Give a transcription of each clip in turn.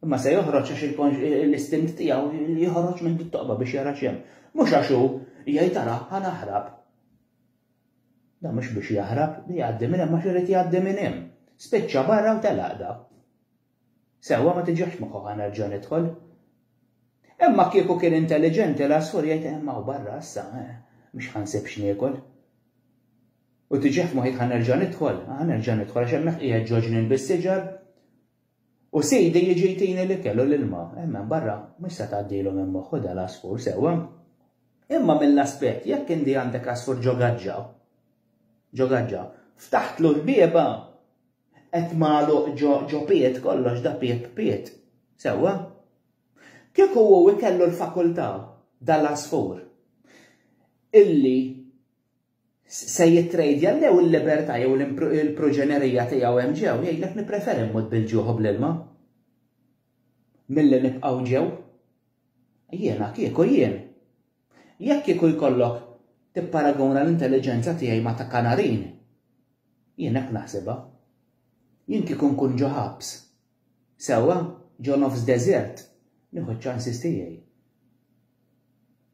Imma se joħroġ għax l-istint tiegħu li joħroġ minn dit-toqba biex jara x'hemm. Mhux għax hu jgħid ara ħa naħrab. Da mhux biex jaħrab, li jgħaddi minn hemm għax irid jgħaddi minn hemm. Spiċċa barra u telaqda. Sewwa ma tiġax moħħu ħa nerġa' nidħol. Imma kieku kien intelligenti l-asfur jgħid imma u barra issa, eh, mhux ħansib x'niekol. U tiġax moħħi ħa nerġa' nidħol, ħa nerġa' nidħol għax hemmhekk qiegħed ġoġnin bis-siġar U sidi jiġi jtini l-ikel u l-ilma. Hemm hemm barra mhux se tgħaddilhom hemm moħħu dal-għasfur sewwa. Imma mill-aspett jekk inti għandek għasfur ġo gaġġa, ġo gaġġa, ftaħtlu l-bieba, qed magħluq ġo ġo pied kollox da pieb pied. Sewwa? Kieku hu ikellu l-fakultà dal-għasfur illi se jittrejdja lew il-libertà jew il-proġenerija tiegħu hemm ġew, jgħidlek nippreferi mmut bil-ġuħ u bl-ilma milli nibqgħu ġew. Jiena kieku jien. Jekk kieku jkollok tipparaguna l-intelliġenza tiegħi ma' ta' kanarin, jien hekk naħsibha. Jien kieku nkun ġo ħabs, Sewwa, ġo nofs deżert, nieħu ċ-ċansis tiegħi.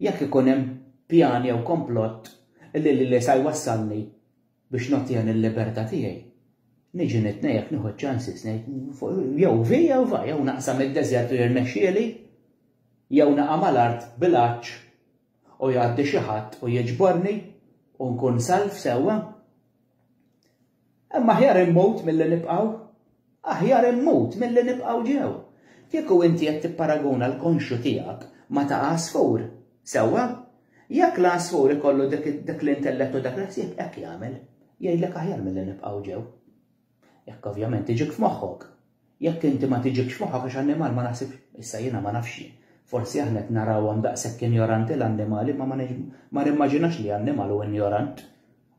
Jekk ikun hemm pjan jew komplott li lili sa jwassalni biex nottiha l-libertà tiegħi, niġi nitnejjek nieħu ċ-ċansis ngħid jew vi jew va, jew naqsam id-deżert u jirnexxieli, jew naqa' mal-art bil-għatx u jgħaddi xi ħadd u jiġborni u nkun salv sewwa. Imma aħjar immut milli nibqgħu. Aħjar immut milli nibqgħu ġew. Kieku inti qed tipparaguna l-konxju tiegħek ma' ta' għasfur, sewwa? Jekk l-għasfur ikollu dak l-intellett u dak il-ħsieb, hekk jagħmel. Jgħidlek aħjar milli nibqgħu ġew. Jekk ovvjament tiġik f'moħħok. Jekk inti ma tiġikx f'moħħok għax annimal ma naħsibx, issa jiena ma nafx, forsi aħna qed narawhom daqshekk injoranti l-annimali imma ma nimmaġinax li annimal hu injorant.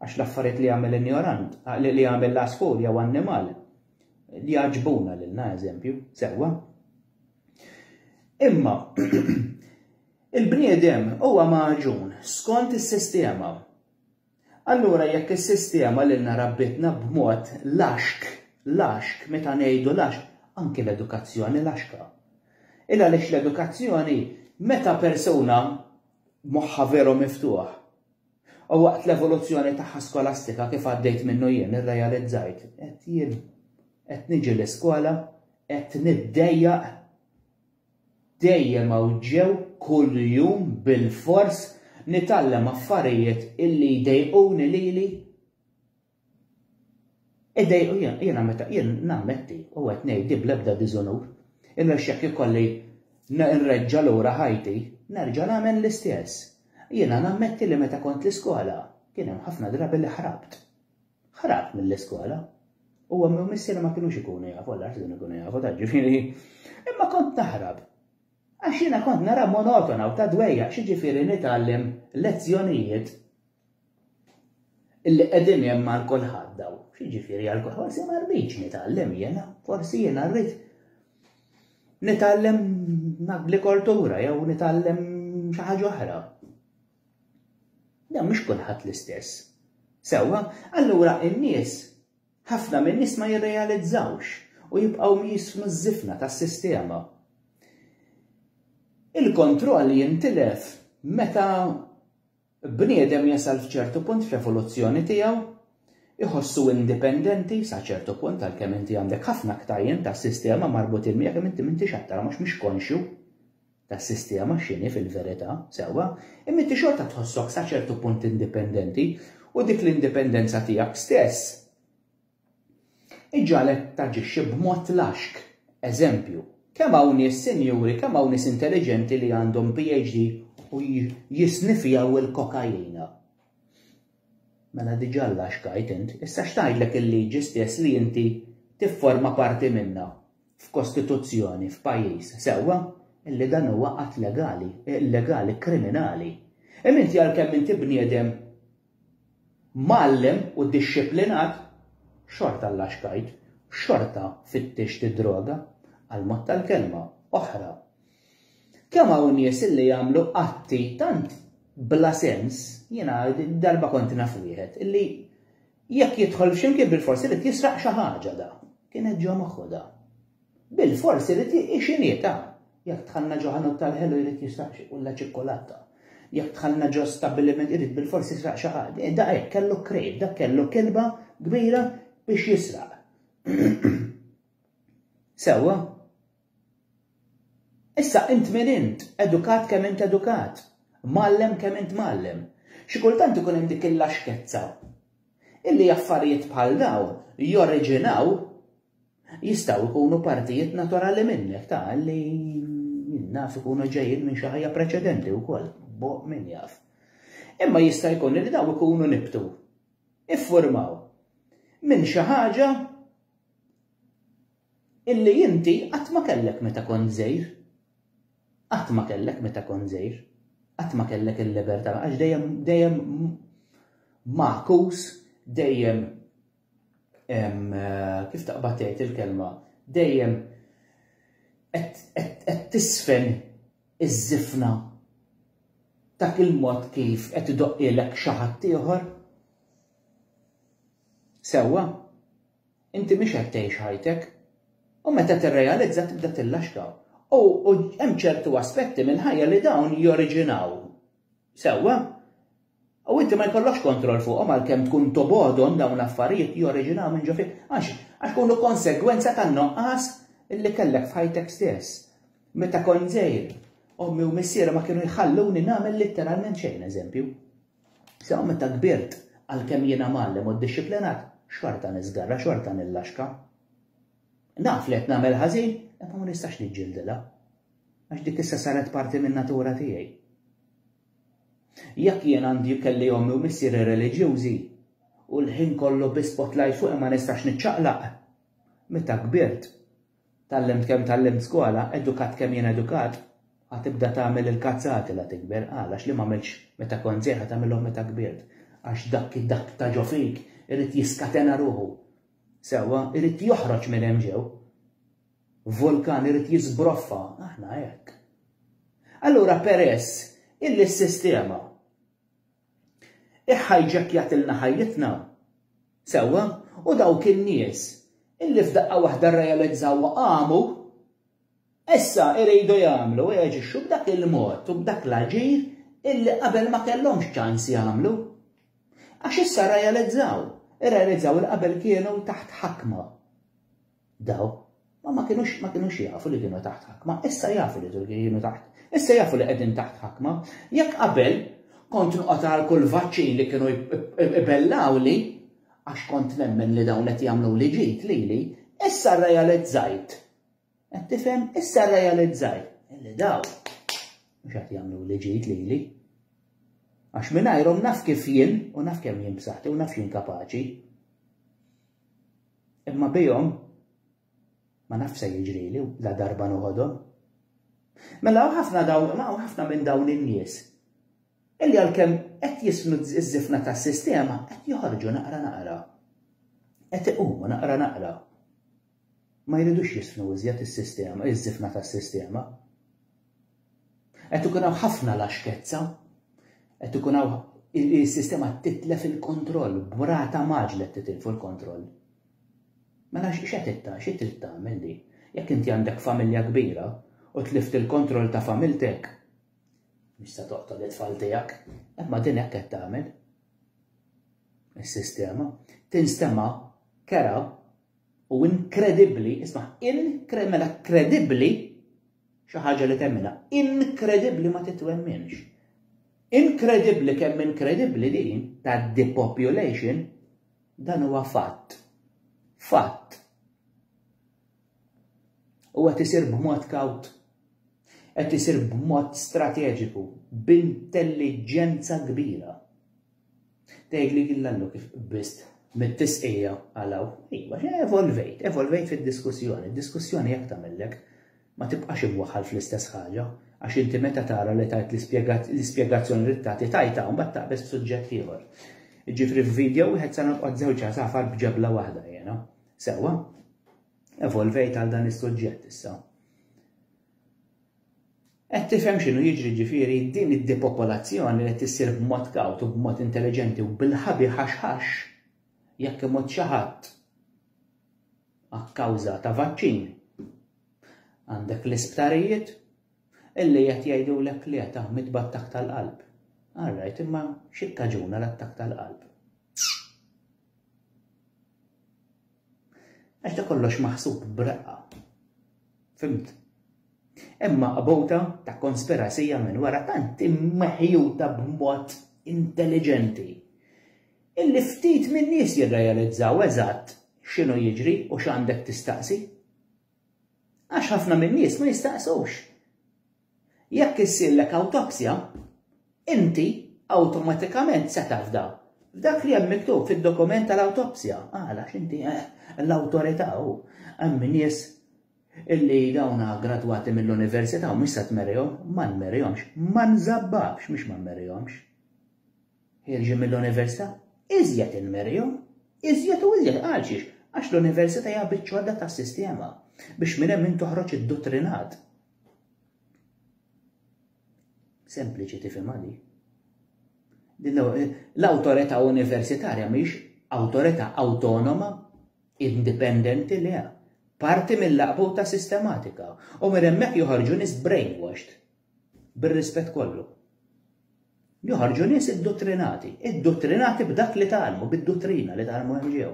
Għax l-affarijiet li jagħmel injorant, li jagħmel l-għasfur jew annimal, jagħġbuna lilna, eżempju, sewwa. Imma il-bniedem huwa maġun skont is-sistema. Allura jekk is-sistema li narabbitna b'mod laxk, laxk, meta ngħidu laxk, anki l-edukazzjoni laxka. Illa lix l-edukazzjoni meta persuna moħħa veru miftuħ U waqt l-evoluzzjoni tagħha skolastika kif għaddejt minnu jien irrealizzajt qed jien qed niġi l-iskola qed niddejjaq dejjem hawn ġew kuljum bilfors nitgħallem affarijiet illi jdejquni lili Iddejqu jien, jiena meta jien nammetti u qed ngħid di bl-ebda diżunur, għax jekk ikolli nreġġa' lura ħajti, nerġa' nagħmel l-istess. Jiena nammetti li meta kont l-iskola, kien hemm ħafna drabi li ħrabt. Ħrabt mill-iskola. U ommi u missieri ma kinux ikunu jafu, Alla jaf x'kunu jkunu jafu ta' ġifieri. Imma kont naħrab. Għax jiena kont nara monotona u ta' dwejjaq xi ġifieri nitgħallem lezzjonijiet Illi qegħdin hemm għal kulħadd daw. X'jiġifieri għal kulħadd? Forsi ma rridx nitgħallem jiena, forsi jiena rrid nitgħallem l-agrikoltura jew nitgħallem xi ħaġa oħra. Dan mhux kulħadd l-istess. Sewwa, allura in-nies ħafna minn nies ma jirrealizzawx u jibqgħu jismu ż-żifna tas-sistema. Il-kontroll jintilef meta Bniedem jasal f'ċertu punt fl-evoluzzjoni tiegħu, iħossu indipendenti sa ċertu punt għalkemm inti għandek ħafna ktajjen tas-sistema marbutin miegħek imma inti m'intix qed tarahom għax mhux konxju tas-sistema x'inhi fil-verità, sewwa, imma inti xorta tħossok sa ċertu punt indipendenti u dik l-indipendenza tiegħek stess Iġagħlek taġixxi b'mod laxk. Eżempju, Kemm hawn nies sinjuri, kemm hawn nies intelliġenti li għandhom PhD u jisniffjaw il-kokaina. Mela diġà laxkajt int, issa x'tgħidlek il-liġi stess li inti tifforma parti minnha, f'kostituzzjoni, f'pajjiż, sewwa, illi dan huwa att legali, illegali, kriminali. Imma inti għalkemm inti bniedem Mgħallem u dixxiplinat, xorta llaxkajt, xorta fittixt id-droga, għall-mod tal-kelma, oħra. Kemm hawn nies illi jagħmlu atti tant bla sens, jiena darba kont naf wieħed illi jekk jidħol x'imkien bilfors irid jisraq xi ħaġa da. Kienet ġo moħħu da. Bilfors irid jieqi xinhietha. Jekk dħalna ġo ħanut tal-ħelu jrid jisraq xi qulla ċikkulata. Jekk dħalna ġo stabbiliment irid bilfors jisraq xi ħaġa. Da hekk kellu krejt, dak kellu kilba kbira biex jisraq. Sewwa? Issa int min int, edukat kemm int edukat, mgħallem kemm int mgħallem. Xi kultant ikun hemm dik il-laxkezza illi affarijiet bħal dawn joriġinaw Jistgħu jkunu partijiet naturali minnek ta' li naf ikunu ġejjin minn xi ħajja preċedenti wkoll, bo min jaf. Imma jista' jkun li daw ikunu nibtu, iffurmaw minn xi ħaġa illi inti qatt ma kellek meta kont żejr. Qatt ma kellek meta kont żejr. Qatt ma kellek il-libertà għax dejjem dejjem makus, dejjem kif taqbad tgħid il-kelma, dejjem qed tisfen iż-żifna dak il-mod kif qed idoqqilek xi ħadd ieħor. Sewwa, inti mhix qed tgħix ħajtek, u meta tirrealizza tibda tillaxka. U hemm ċertu aspetti mill-ħajja li dawn joriġinaw. Sewwa, U inti ma jkollokx kontroll fuqhom għalkemm tkun tobgħodhom dawn l-affarijiet joriġinaw minn ġo fik. Għax? Għax kunu konsegwenza tan-nuqqas li kellek f'ħajtek stess. Meta kont żgħir, ommi u missieri ma kienu jħalluni nagħmel litteralment xejn, eżempju. Sew meta kbirt, għalkemm jiena mgħallem u ddixxiplinat, xorta niżgarra, xorta nillaxka. Naf li qed nagħmel ħażin, imma ma nistax niġġildilha. Għax dik issa saret parti min-natura tiegħi. Jekk jien għandi kelli ommi u missieri reliġjużi u l-ħin kollu bi spotlight fuqi ma nistax niċċaqlaq. Meta kbirt, tgħallimt kemm tgħallimt skola, edukat kemm jien edukat, ha tibda tagħmel il-kazzati la tikber, qal għax li m'għamiltx meta kont żgħir ha tagħmilhom meta kbirt. Għax dak dak ta' ġo fik irid jiskatena ruħu. Sewwa, irid joħroġ minn hemm ġew. Vulkan irid jiżbroffa, aħna hekk. Allura peress illi s-sistema iħħajġekkjatilna ħajjitna, sewwa, u dawk in-nies illi f'daqqa waħda rrealizzaw u qamu, issa iridu jagħmlu u jaġixxu b'dak il-mod u b'dak l-aġir illi qabel ma kellhomx ċans jagħmlu. Għax issa rrealizzaw, irrealizzaw li qabel kienu taħt ħakma. Daw ma ma kinux ma kinux jafu li kienu taħt ħakma, issa jafu li kienu taħt. Issa jafu li qegħdin taħt ħakma. Jekk qabel kont noqgħod għal kull vaċċin li kienu ibellawli għax kont nemmen li dawn qed jagħmlu li ġid lili, issa rrealizzajt. Qed tifhem issa rrealizzajt li daw mhux qed jagħmlu li ġid lili. Għax mingħajrhom naf kif jien u naf kemm jien b'saħħti u naf jien kapaċi. Imma bihom ma nafx se jiġrili ladarba noħodhom. Mela hawn ħafna dawn, hawn ħafna minn dawn in-nies illi għalkemm qed jisnu ż-żifna tas-sistema qed joħorġu naqra naqra. Qed iqumu naqra naqra. Ma jridux jisnu iżjed is-sistema, iż-żifna tas-sistema. Qed ikun hawn ħafna laxkezza, qed ikun hawn is-sistema titlef il-kontroll, b'rata mgħaġġla qed titilfu l-kontroll. Mela x'qed itta, xi trid tagħmel li jekk inti għandek familja kbira u tlift il-kontroll ta' familtek, mhux se toqtol it-tfal tiegħek, imma din hekk qed tagħmel. Is-sistema tinstema' kera U inkredibbli, isma', inkre, mela kredibbli, xi ħaġa li temmina, inkredibbli ma titwemminx. Inkredibbli kemm inkredibbli din ta' depopulation dan huwa fatt. Fatt. U qed isir b'mod kawt. Qed isir b'mod strateġiku, b'intelliġenza kbira. Tgħidli illa llu kif qbiżt mit-tisqija għal hawn. Iva, evolvejt, evolvejt fid-diskussjoni. Diskussjoni hekk tagħmillek. Ma tibqax imwaħħal fl-istess ħaġa, għax inti meta tara li tajt l-ispjegazzjoni li tagħti tajtha u mbagħad taqbeż b'suġġett ieħor. Jiġifieri f'video wieħed se nolqgħod żewġ għasafar b'ġebla waħda jiena. Sewwa, evolvejt għal dan is-suġġett issa. Qed tifhem x'inhu jiġri ġifieri? Din id-depopolazzjoni li qed issir b'mod kawt u b'mod intelliġenti u bil-ħabi ħax ħax, jekk imut xi ħadd akkawża ta' vaċċin, għandek l-isptarijiet illi qed jgħidulek li qed mit b'attakk tal-qalb. All right, imma x'ikkaġuna l-attakk tal-qalb? Għax da kollox maħsub b'reqqa. Fimt? Imma qabota ta' konspirasija minn wara tant immeħjuta b'mod intelligenti. Illi ftit minn nies jirrealizzaw eżatt x'inhu jiġri u x'għandek tistaqsi. Għax ħafna minn nies ma jistaqsux. Jekk issirlek awtopsja, inti awtomatikament se tafda f'dak li hemm miktub fid-dokument tal-awtopsja. Għala? Għax inti l-awtorità u hemm nies illi dawn gradwati mill-università u mhux se tmerihom, ma nmerihomx, ma nżabbabx, mhux ma nmerihomx. Ħierġin mill-università, iżjed inmerihom, iżjed u iżjed għal xiex? Għax l-università hija biċċodda tas-sistema biex minn hemm in toħroġ idduttrinat. Sempliċi tifhem għadi. L-awtorità universitarja mhix awtorità awtonoma, indipendenti li parti mill-laqbuta sistematika u minn hemmhekk joħorġu nies brainwashed bir-rispett kollu. Joħorġu nies id-dottrinati, id-dottrinati b'dak li talmu, bid-dottrina li talmu ħġew.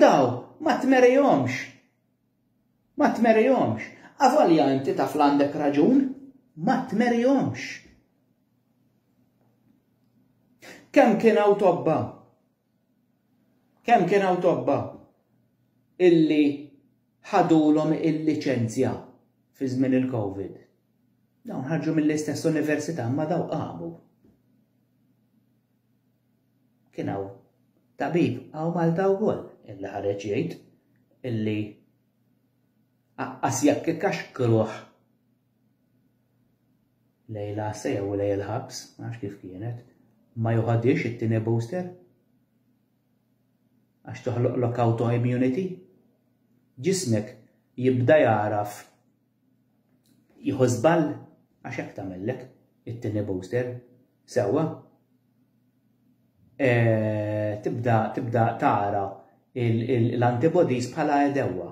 Daw, ma tmerihomx Ma tmerihomx. Avolja inti taf l-għandek raġun, ma tmerihomx. Kemm kien hawn tobba? Kemm kien hawn tobba illi ħadulhom il-liċenzja fi żmien il-Covid? Dawn ħarġu mill-istess università ma daw qamu. Kien hawn tabib hawn Malta wkoll illi ħareġ jgħid illi aqqas jekk ikaxkruh lejn l-għassa jew lejn il-ħabs, ma nafx kif kienet, ma joħodhiex it-tieni booster għax toħloqlok autoimmunity. Ġismek jibda jagħraf Jieħu żball għax hekk tagħmellek it-tieni booster. Sewwa. Eh, tibda tibda tara l-antibodies bħala edewwa.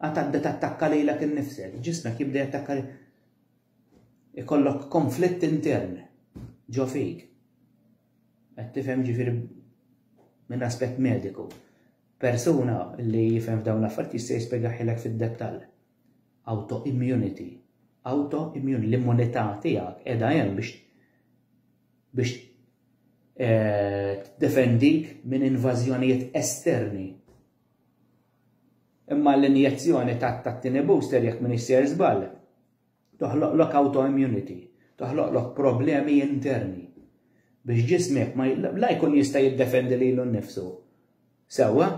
Għatadda tattakka lilek innifsek, ġismek jibda jattakka ikollok konflitt intern ġo fik. Qed tifhem ġifieri minn aspett mediku. Persuna li jifhem f'dawn l-affarijiet jista' jispjegahielek fid-dettall. Autoimmunity. Autoimmunity. L-immunità tiegħek qiegħda hemm biex biex eh, tiddefendik minn invażjonijiet esterni. Imma l-injezzjoni tat-tieni booster jekk minn isser żball Toħloqlok autoimmunity, toħloqlok problemi interni biex ġismek ma la jkun jista' jiddefendi lilu nnifsu sewwa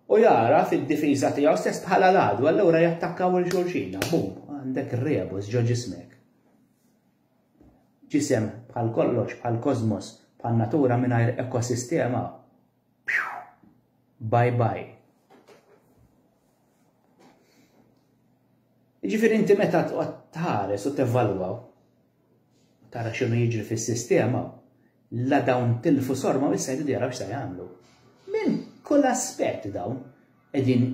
u jagħraf id-difiża tiegħu stess bħala l-għadu, allura jattakkaw il xulxina, bum, għandek rebus ġo ġismek. Ġisem bħal kollox, bħal kosmos, bħal natura mingħajr ekosistema Bye bye. Jiġifieri inti meta tqgħod tħares u tevvalwa tara x'inhu jiġri fis-sistema, la dawn tilfu sorma u issa jridu jaraw x'se jagħmlu. Minn kull aspett dawn qegħdin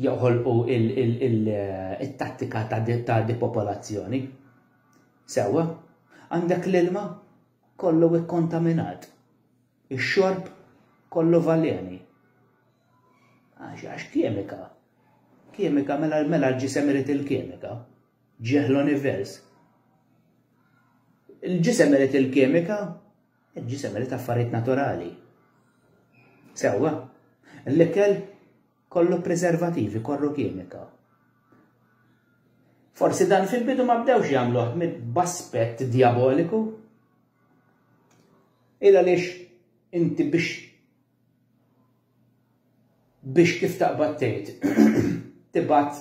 joħolqu il-tattika ta' depopolazzjoni. Sewwa, għandek l-ilma kollu ikkontaminat. Ix-xorb kollu valeni. Għax, għax kemika. Kemika, mela, mela l-ġisem irid il-kemika. Ġieħ l-univers. Il-ġisem irid il-kemika, il-ġisem irid affarijiet naturali. Sewwa, l-ikel kollu preservativi, kollu kimika. Forsi dan fil-bidu ma bdewx jagħmluh b'aspett diaboliku. Il għaliex inti biex biex kif taqbad tgħid tibgħat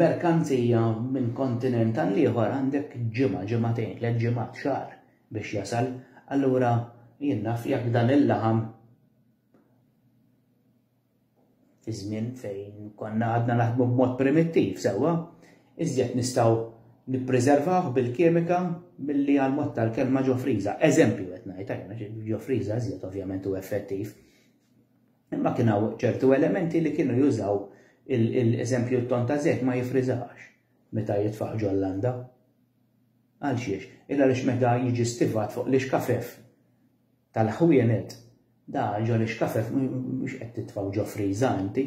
merkanzija minn kontinent għal ieħor għandek ġimgħa, ġimgħatejn, tliet ġimgħat xahar biex jasal, allura jien naf jekk dan il-laħam fi żmien fejn konna għadna naħdmu b'mod primittiv sewwa, iżjed nistgħu nippriservawh bil-kimika milli għall-mod tal-kelma ġo friża. Eżempju qed ngħid, għax ġo friża iżjed ovvjament hu effettiv. Imma kien hawn ċertu elementi li kienu jużaw l-eżempju t-ton ta' żejt ma jifriżax meta jitfaħ ġo l-landa. Għal xiex? Illa għaliex meta jiġi stivat fuq l-ixkafef Tal-ħwienet, da ġo l-ixkafef mhux qed titfgħu ġo friża inti.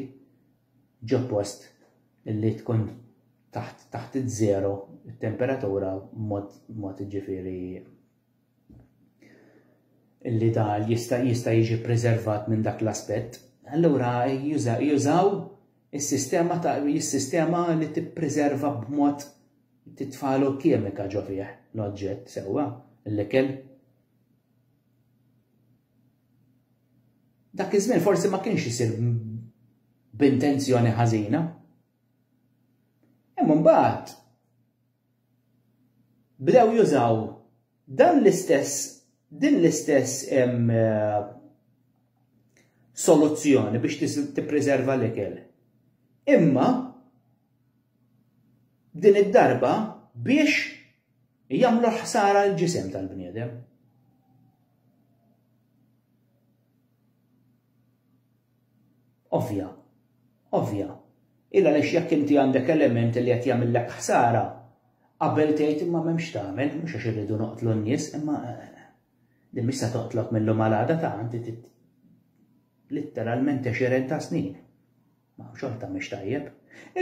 Ġo post li tkun taħt taħt iż-żero t-temperatura b'mod b'mod jiġifieri li da jista' jista' jiġi ppreservat minn dak l-aspett. Allura jużaw is-sistema ta' is-sistema li tippreserva b'mod titfagħlu kimika ġo fih l-oġġett sewwa l-ikel. Dak iż-żmien forsi ma kienx isir b'intenzjoni ħażina. Imma mbagħad bdew jużaw dan l-istess din l-istess eh, soluzzjoni biex tippreserva l-ikel. Imma din id-darba biex Jagħmlu ħsara l-ġisem tal-bniedem. Ovvja, ovvja. Illa għaliex jekk inti għandek element li qed jagħmillek ħsara, qabel tgħid imma m'hemmx tagħmel, mhux għax irridu noqtlu n-nies, imma eh, li mhix se toqtlok mill-lum għal għada ta' għandi litteralment 20 ta' snin. Ma xorta mhix tajjeb.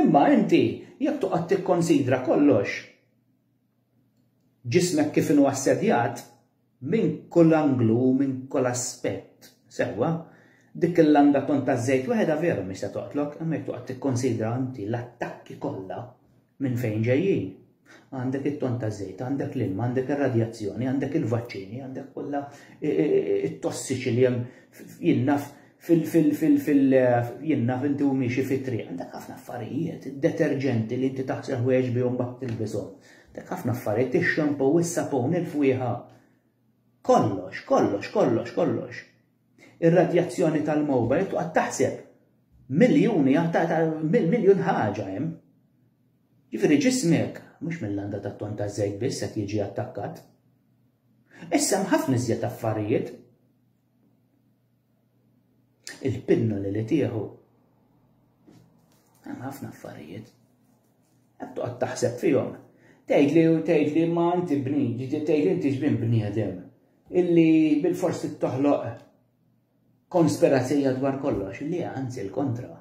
Imma inti jekk toqgħod tikkonsidra kollox, ġismek kif inhu assedjat, minn kull anglu u minn kull aspett, sewwa, dik il-langa ton taż-żejt weħedha veru mhix se toqtlok, imma jekk toqgħod tikkonsidra inti l-attakki kollha minn fejn ġejjin. Għandek it-ton ta' żejt, għandek l-ilma, għandek ir-radjazzjoni, għandek il-vaċċini, għandek kollha it-tossiċi li hemm jinnaf fil-jinnaf inti u miexi fit-triq. Għandek ħafna affarijiet, deterġenti li inti taħsel ħwejġ bihom bat tilbishom. Għandek ħafna affarijiet, ix-xampu, is-sapun, il-fwieħa. Kollox, kollox, kollox, kollox. Ir-radjazzjoni tal-mowbajl tuqgħod taħseb miljuni miljun ħaġa hemm. Jiġifieri ġismek mhux mill-landa tat-ton taż-żejt biss qed jiġi attakkat. Issa hemm ħafna iżjed affarijiet. Il-pinnoli li tieħu. Hemm ħafna affarijiet. Qed toqgħod taħseb fihom. Tgħidli u tgħidli ma inti bni, tgħidli inti xbin bniedem illi bil-fors toħloq konspirazzija dwar kollox, li anzi l-kontra.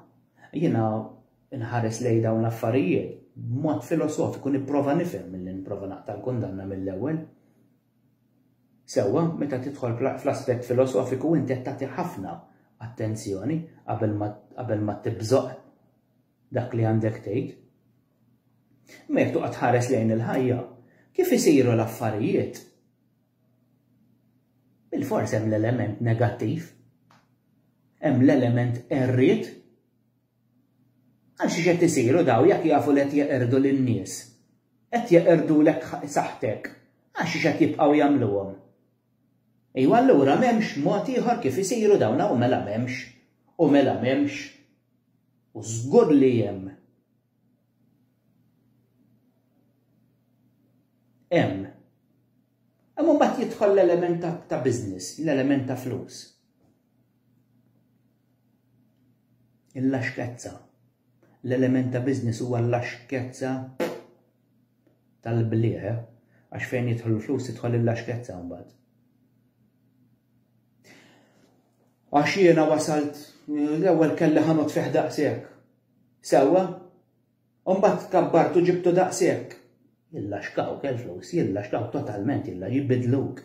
Jiena nħares lej dawn l-affarijiet b'mod filosofiku nipprova nifhem milli nipprova naqta' l-kundanna mill-ewwel. Sewwa, meta tidħol fl-aspett filosofiku inti qed tagħti ħafna attenzjoni qabel ma tibżoq dak li għandek tgħid. Imma jekk toqgħod tħares lejn il-ħajja, kif isiru l-affarijiet, bil-fors hemm l-element negattiv, hemm l-element errid, għax x'qed isiru daw jekk jafu li qed jeqirdu lin-nies, qed jeqirdulek saħħtek, għax x'qed jibqgħu jagħmluhom. Ejwa allura m'hemmx mod ieħor kif isiru dawn hawn mela m'hemmx u mela m'hemmx u żgur li hemm. Hemm. Imma mbagħad jidħol l-element ta' business, l-element ta' flus. Il-laxkezza. L-element ta' business huwa l-laxkezza tal-bliegħ għax fejn jidħlu l-flus tidħol il-laxkezza mbagħad. Għax jiena wasalt l-ewwel kelli ħanot fih daqshekk. Sewwa? U mbagħad kabbartu ġibtu daqshekk. Jillaxkaw kell flus, jillaxkaw totalment illa jibidluk.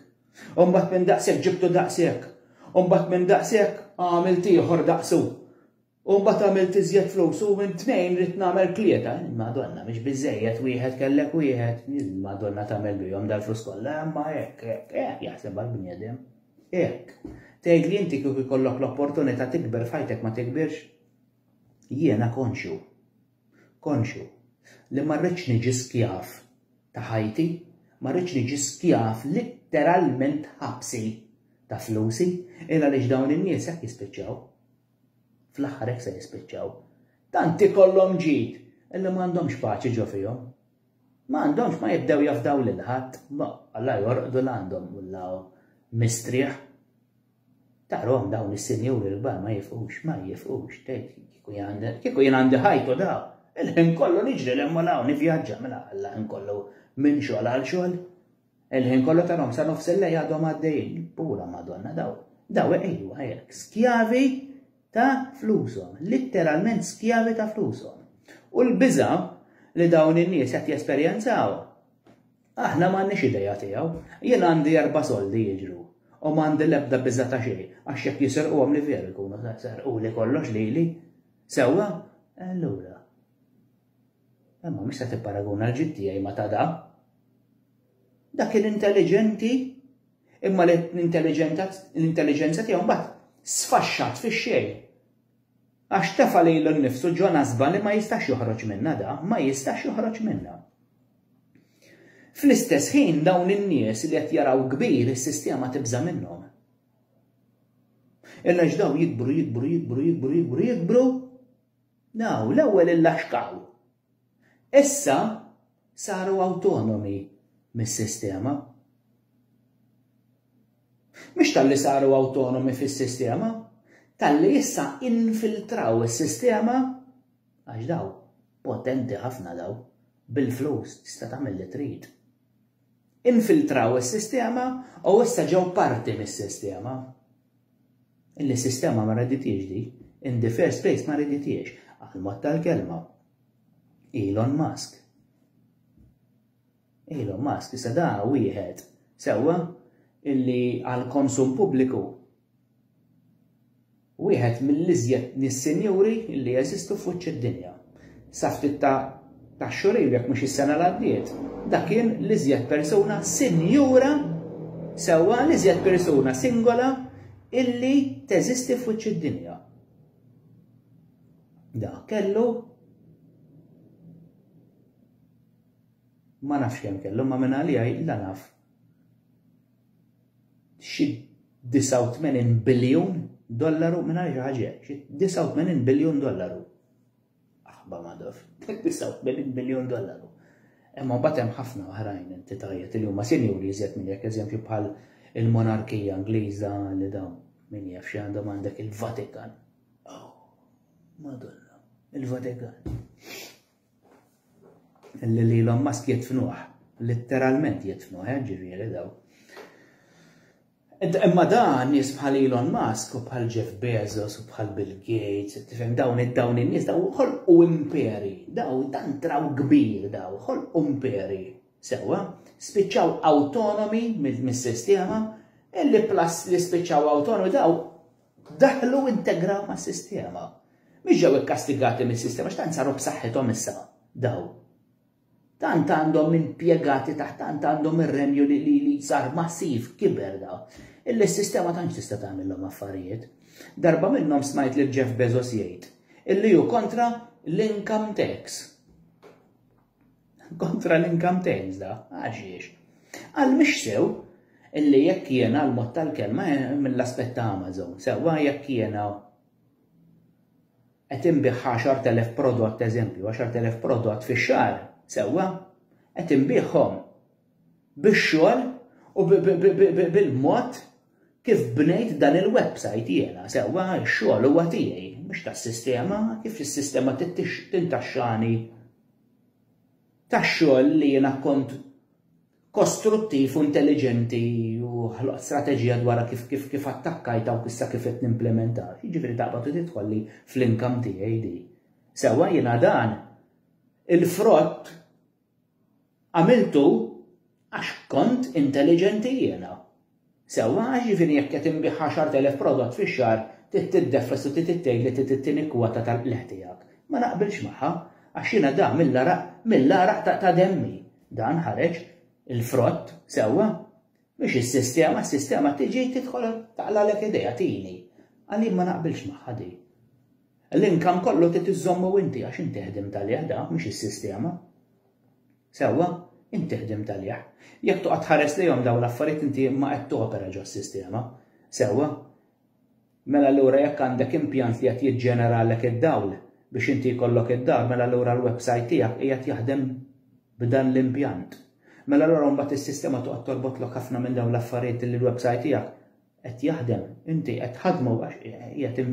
U mbagħad minn daqshekk ġibtu daqshekk. U mbagħad minn daqshekk għamilt ieħor daqsu. U mbagħad għamilt iżjed flus u minn tnejn ridt nagħmel tlieta. Madonna, mhix biżżejjed wieħed kellek wieħed. Madonna tagħmel bihom dal-flus kollha, imma hekk, hekk, hekk jaħseb għall-bniedem. Hekk. Tgħid li inti kieku jkollok l-opportunità tikber f'ħajtek ma tikbirx? Jiena konxju. Konxju. Li ma rridx niġi skjaf ta' ħajti, ma rridx niġi skjaf litteralment ħabsi ta' flusi, illa li dawn in-nies hekk jispiċċaw. Fl-aħħar hekk se jispiċċaw. Tant ikollhom ġid illi m'għandhomx paċi ġo fihom. Ma għandhomx ma jibdew jafdaw lil ħadd, la jorqdu la għandhom la mistrieħ. Tarhom dawn is-sinjuri l-kbar ma jifqux, ma jifqux, tgħid kieku jien għandi ħajtu da, il-ħin kollu niġri l-hemm u l-hawn nivvjaġġa mela Alla ħin kollu minn xogħol għal xogħol. Il-ħin kollu tarhom sa nofs il-lejl għadhom għaddejjin. Pura Madonna daw. Daw ejwa hekk, skjavi ta' flushom, litteralment skjavi ta' flushom. U l-biża' li dawn in-nies qed jesperjenzaw, aħna m'għandniex idea tiegħu. Jien għandi erba' soldi jiġru u m'għandi l-ebda biża' ta' xejn għax jekk jisirquhom li veru jkunu serquli kollox lili. Sewwa? Allura. Imma mhux se tipparaguna l-ġid tiegħi ma' ta' da. Dak kien intelliġenti, imma l-intelliġenza tiegħu mbagħad sfaxxat fix-xejn. Għax tefa' lilu nnifsu ġo nasba li ma jistax joħroġ minnha da, ma jistax joħroġ minnha. Fl-istess ħin dawn in-nies li qed jaraw kbir is-sistema tibża' minnhom. Illa ġdaw jikbru, jikbru, jikbru, jikbru, jikbru, jikbru, Naw, l-ewwel illaxkaw. Issa saru awtonomi mis-sistema. Mhux talli saru awtonomi fis-sistema, talli issa infiltraw is-sistema għax daw potenti ħafna daw, bil-flus tista' tagħmel li trid. Infiltraw is-sistema u issa ġew parti mis-sistema. Illi s-sistema ma reditiex di, in the first place ma reditiex, għall-mod tal-kelma. Elon Musk. Elon Musk, issa da wieħed, sewwa, illi għall-konsum pubbliku Wieħed mill-iżjed nies sinjuri li jeżistu fuċċ id-dinja. Sa ftit ta' ta' xhur ilu jekk mhux is-sena l-għaddiet, dak kien l-iżjed persuna sinjura sewwa l-iżjed persuna singola illi teżisti fuċċ id-dinja. Dak kellu ma nafx kemm kellu ma minn għalija la naf xi 89 biljun dollaru mingħajr xi ħaġa, xi 89 biljun dollaru. Aħba madaf, 89 biljun dollaru. Imma mbagħad hemm ħafna oħrajn entitajiet li huma sinjuri iżjed minn jekk eżempju bħal il-monarkija Ingliża li dawn min jaf xi għandhom għandek il-Vatikan. Oh, Madonna, il-Vatikan. li li Elon Musk jitfnuħ, litteralment jitfnuħ, eh, ġifieri daw. Imma dan nies bħal Elon Musk u bħal Jeff Bezos u bħal Bill Gates, tifhem dawn id-dawn in-nies daw ħolqu imperi, daw dan traw kbir daw, ħolqu imperi. Sewa, spiċċaw autonomi mis-sistema, illi plus li spiċċaw autonomi daw Daħlu u integraw mas-sistema. Mhux ġew ikkastigati mis-sistema x'tant saru b'saħħithom issa daw. Tant għandhom impjegati taħt tant għandhom ir-renju li li sar massiv kiber daw. Illi s-sistema tantx tista' tagħmilhom affarijiet. Darba minnhom smajt lil Jeff Bezos jgħid illi hu kontra l-income tax. Kontra l-income tax da, għaxiex. Għal mhix sew illi jekk jiena l-mod tal-kelma eh, mill-aspett ta' Amazon, sewwa jekk jiena qed inbih 10,000 prodott eżempju, 10,000 prodott fix-xahar, sewwa qed inbihom bix-xogħol u bil-mod kif bnejt dan il-website jiena, sewwa x-xogħol huwa tiegħi, mhux tas-sistema, kif is-sistema tintaxxani tax-xogħol li jiena kont kostruttiv u intelliġenti u ħloqt strateġija dwar kif kif kif attakkajt dawk issa kif qed nimplementa. Jiġifieri taqbad u tidħolli fl-inkam tiegħi di. Sewwa jiena dan il-frott għamiltu Għax kont intelliġenti jiena. Sewwa, jiġifieri jekk qed inbigħ għaxart elef prodott fix-xahar, trid tiddefres u trid tgħid li trid it-tieni kwota tal-qligħ tiegħek. Ma naqbilx magħha, għax jiena dan mill-għaraq, mill-għaraq ta' demmi, dan ħareġ, il-frott, sewwa? Mhix is-sistema, s-sistema tiġi tidħol taqlalek idejha tini. Għalien ma naqbilx magħha di. L-inkam kollu trid iżommu inti għax inti ħdimt għalih da, mhux is-sistema. Sewwa, int tiħdem talih. Jekk toqgħod tħares lejhom dawn l-affarijiet inti ma qed topera ġos-sistema. Sewwa? Mela allura jekk għandek impjant li qed jiġġeneralek id-dawl biex inti jkollok id-dar mela allura l-websajt tiegħek qiegħed jaħdem b'dan l-impjant. Mela allura mbagħad is-sistema toqgħod torbotlok ħafna minn dawn l-affarijiet li l-websajt tiegħek qed jaħdem, inti qed tħaddmu għax qiegħed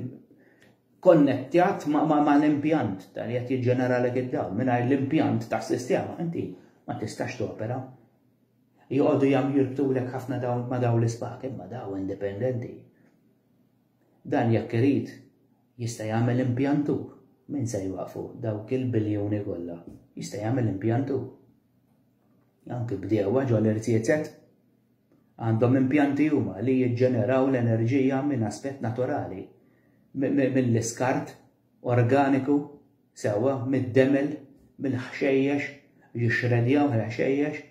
konnettat ma' l-impjant ta' li qed jiġġeneralek id-dawl. Mingħajr l-impjant tas-sistema inti ma tistax topera. Joqogħdu jam jirbtulek ħafna dawl ma' dawl l-ispak imma daw indipendenti. Dan jekk irid jista' jagħmel impjantu. Min se jwaqfu dawk il-biljuni kollha? Jista' jagħmel impjantu. Anki bdewwa ġol-irziezet. Għandhom impjanti huma li jiġġeneraw l-enerġija minn aspett naturali, mill-iskart organiku, sewwa, mid-demel, mill-ħxejjex, jixxredjaw il-ħxejjex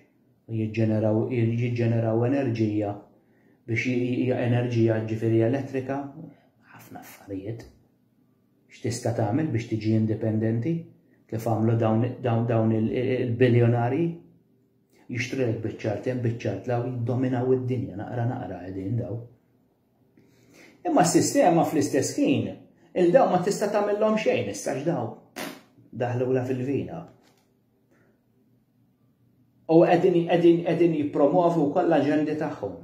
u jiġġeneraw jiġġeneraw enerġija biex enerġija ġifieri elettrika, ħafna affarijiet. X'tista' tagħmel biex tiġi indipendenti kif għamlu dawn dawn dawn il-biljonarji? Jixtrilek biċċart hemm biċċart law jiddominaw id-dinja naqra naqra qegħdin daw. Imma s-sistema fl-istess ħin il-daw ma tista' tagħmilhom xejn issa x'daw. Daħlula fil-vina. U qegħdin qegħdin qegħdin jippromovu kollha ġendi tagħhom.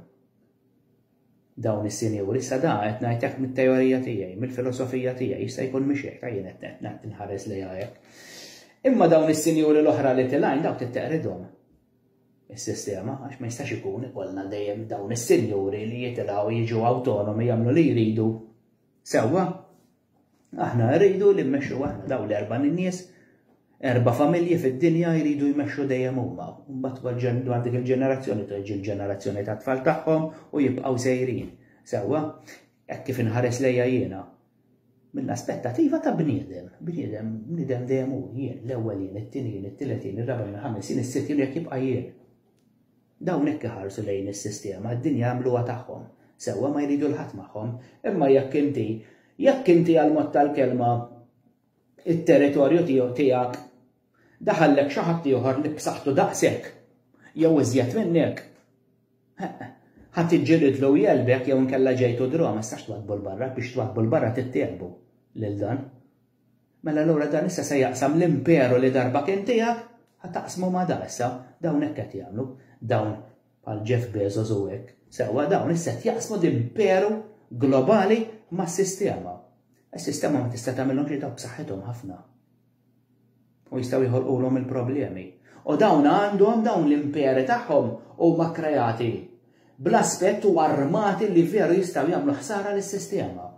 dawn is-sinjuri, sa da qed ngħidlek mit-teorija tiegħi, mill-filosofija tiegħi, jista' jkun mhix hekk, ha jien qed inħares lejha hekk. Imma dawn is-sinjuri l-oħra li tilgħin dawk trid teqridhom is-sistema għax ma jistax ikun ikollna dejjem dawn is-sinjuri li jitilgħu jiġu awtonomi jagħmlu li jridu sewwa Aħna rridu li mmexxu aħna dawn l-erba' nies, erba' familji fid-dinja jridu jmexxu dejjem huma. Mbagħad dwar dik il-ġenerazzjoni tiġi l-ġenerazzjoni tat-tfal tagħhom u jibqgħu sejrin. Sewwa, hekk kif inħares lejja jiena. Mill-aspettativa ta' bniedem, bniedem, bniedem dejjem hu jien, l-ewwel jien, it-tieni jien, it-tielet jien, ir-raba' jien, ħames jien, is-sitt jien jekk jibqa' jien. Dawn hekk iħarsu lejn is-sistema, d-dinja jagħmluha tagħhom. Sewwa ma jridu 'l ħadd magħhom. Imma jekk inti, jekk inti għal mod tal-kelma it-territorju tiegħu tiegħek daħallek xi ħadd ieħor li b'saħħtu daqshekk jew iżjed minnek, ħadd iġġilidlu u jelbek jew inkella ġejtu draw ma tistax twaddbu 'l barra biex twaddbu 'l barra trid tiegħlbu lil dan. Mela allura dan issa se jaqsam l-imperu li darba kien tiegħek, ħa taqsmu ma' da issa, dawn hekk qed jagħmlu, dawn bħal Jeff Bezos u hekk, sewwa dawn issa qed jaqsmu l-imperu globali mas-sistema. Is-sistema ma tista' tagħmilhom xejn dawk b'saħħithom ħafna. U jistgħu joħolqulhom il-problemi. U dawn għandhom dawn l-imperi tagħhom huma kkrejati bl-aspett u armati li veru jistgħu jagħmlu ħsara lis-sistema,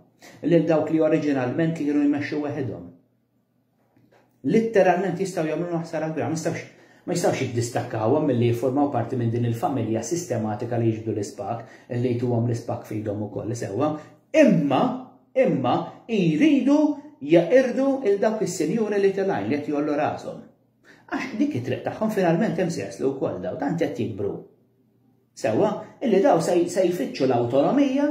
lil dawk li oriġinalment kienu jmexxu weħidhom. Litteralment jistgħu jagħmlu ħsara kbira, ma jistgħux ma jistgħux jiddistakkawhom milli jiffurmaw parti minn din il-familja sistematika li jiġbdu l-ispak, li jtuhom l-ispak f'idhom ukoll sewwa, imma Imma jridu jeqirdu 'l dawk is-sinjuri li tilgħin li qed jgħollu rashom. Għax dik it-triq tagħhom finalment hemm se jaslu wkoll dawn, tant qed jikbru. Sewwa, illi dawn se jfittxu l-awtonomija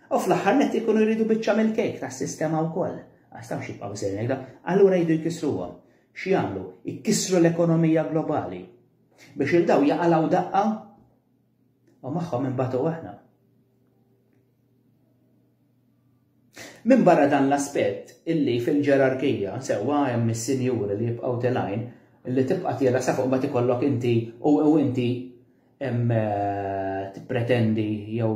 u fl-aħħar nett ikunu jridu biċċa mill-kejk tas-sistema wkoll. Għax tafx jibqgħu sejrin hekk dawn, allura jridu jkissruhom. X'jagħmlu? Ikissru l-ekonomija globali. Biex 'il dawn jaqalgħu daqqa u magħhom inbagħtu aħna. Minbarra dan l-aspett, illi fil-ġerarkija, sewwa hemm is-sinjuri li jibqgħu tenajn, li tibqa' tira sa fuq imbagħad ikollok inti u inti tippretendi jew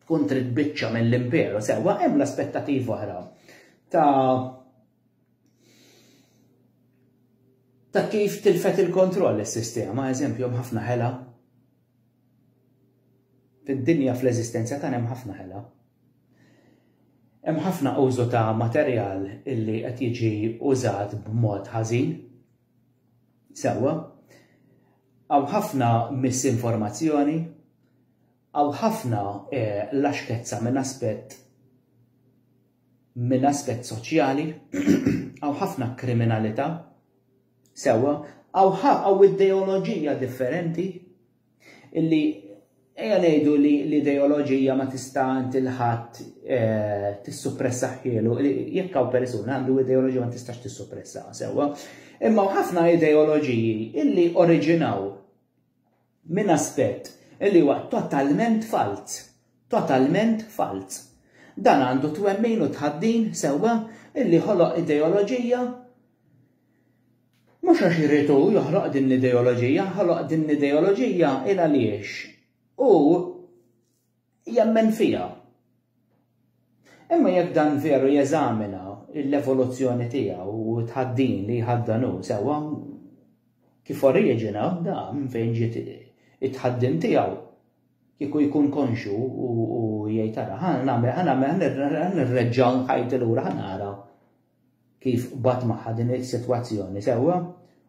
tkun trid biċċa mill-imperu, sewwa hemm l-aspettativ oħra ta' ta' kif tilfet il-kontroll is-sistema, eżempju hemm ħafna ħela Fid-dinja fl-eżistenza tagħna hemm ħafna ħela. Hemm ħafna użu ta' materjal illi qed jiġi użat b'mod ħażin. Sewwa, hawn ħafna misinformazzjoni, hawn ħafna eh, laxkezza minn aspett Minn aspett soċjali, hawn ħafna kriminalità, sewwa, hawn ideoloġija differenti illi ejja ngħidu li l-ideoloġija ma tista' inti l-ħadd eh, tissuppressaħħielu, jekk hawn persuna għandu ideoloġija ma tistax tissuppressaha sewwa. Imma ħafna ideoloġiji illi oriġinaw minn aspett li huwa totalment falz, totalment falz. Dan għandu t-twemmin u t-tħaddin sewwa li ħoloq ideoloġija, mhux għax irid hu joħloq din l-ideoloġija, ħoloq din l-ideoloġija il-għaliex hu jemmen fiha. Imma jekk dan veru jeżamina l-evoluzzjoni tiegħu u tħaddin li jħaddanu sewwa kif oriġina da minn fejn ġiet it-tħaddim tiegħu kieku jkun konxu u jgħid ara ħa nagħmel ħa nagħmel ħa nirreġġa' ħajti lura ħa nara kif qbad magħha din is-sitwazzjoni sewwa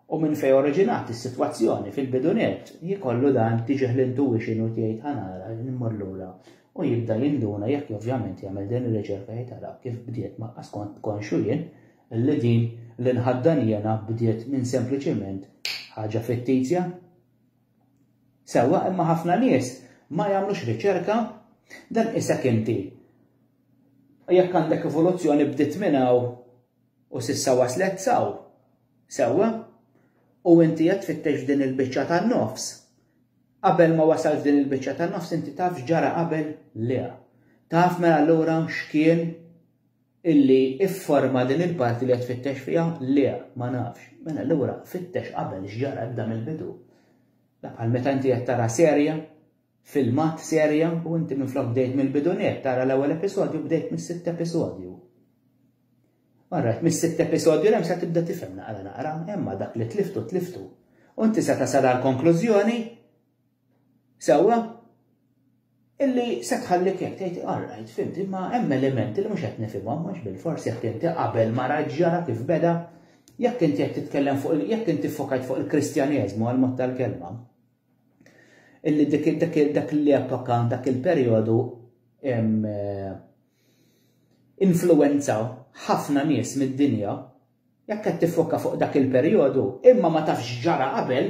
u minn fejn oriġinat is-sitwazzjoni fil-bidu nett, jkollu dan tiġih l-intuition u tgħid ħa nara immur lura u jibda jinduna jekk ovvjament jagħmel din ir-riċerka jgħid ara kif bdiet ma skont konxu jien li din li nħaddan jiena bdiet minn sempliċiment ħaġa fittizja. Sewwa imma ħafna nies ma jagħmlux riċerka dan isek inti U jekk għandek evoluzzjoni bdiet minn hawn u s'issa waslet s'hawn, sewwa, u inti qed tfittex f'din il-biċċa tan-nofs, qabel ma wasalt f'din il-biċċa tan-nofs inti taf x'ġara qabel liha. Taf mela allura x'kien illi ifforma din il-parti li qed tfittex fiha liha, ma nafx. Mela allura fittex qabel x'ġara ibda mill-bidu. La bħal meta inti qed tara serje, filmat serje u inti minflok bdejt mill-bidu nett tara l-ewwel episodju bdejt mis-sitt episodju. Alright, mis-sitt episodju l-hemm se tibda tifhem naqra naqra, imma dak li tliftu tliftu. U inti se tasal għal konklużjoni sewwa illi se tħallik jekk tgħid alright fimti ma hemm elementi li mhux qed nifhimhom mhux bil-fors jekk inti qabel ma raġġara kif beda jekk inti qed titkellem fuq jekk inti fokajt fuq il-Kristjaneżmu għal mod tal-kelma. illi dak l-epoka, dak il-perjodu influenza ħafna nies mid-dinja, jekk qed tiffoka fuq dak il-perjodu, imma ma tafx x'ġara qabel,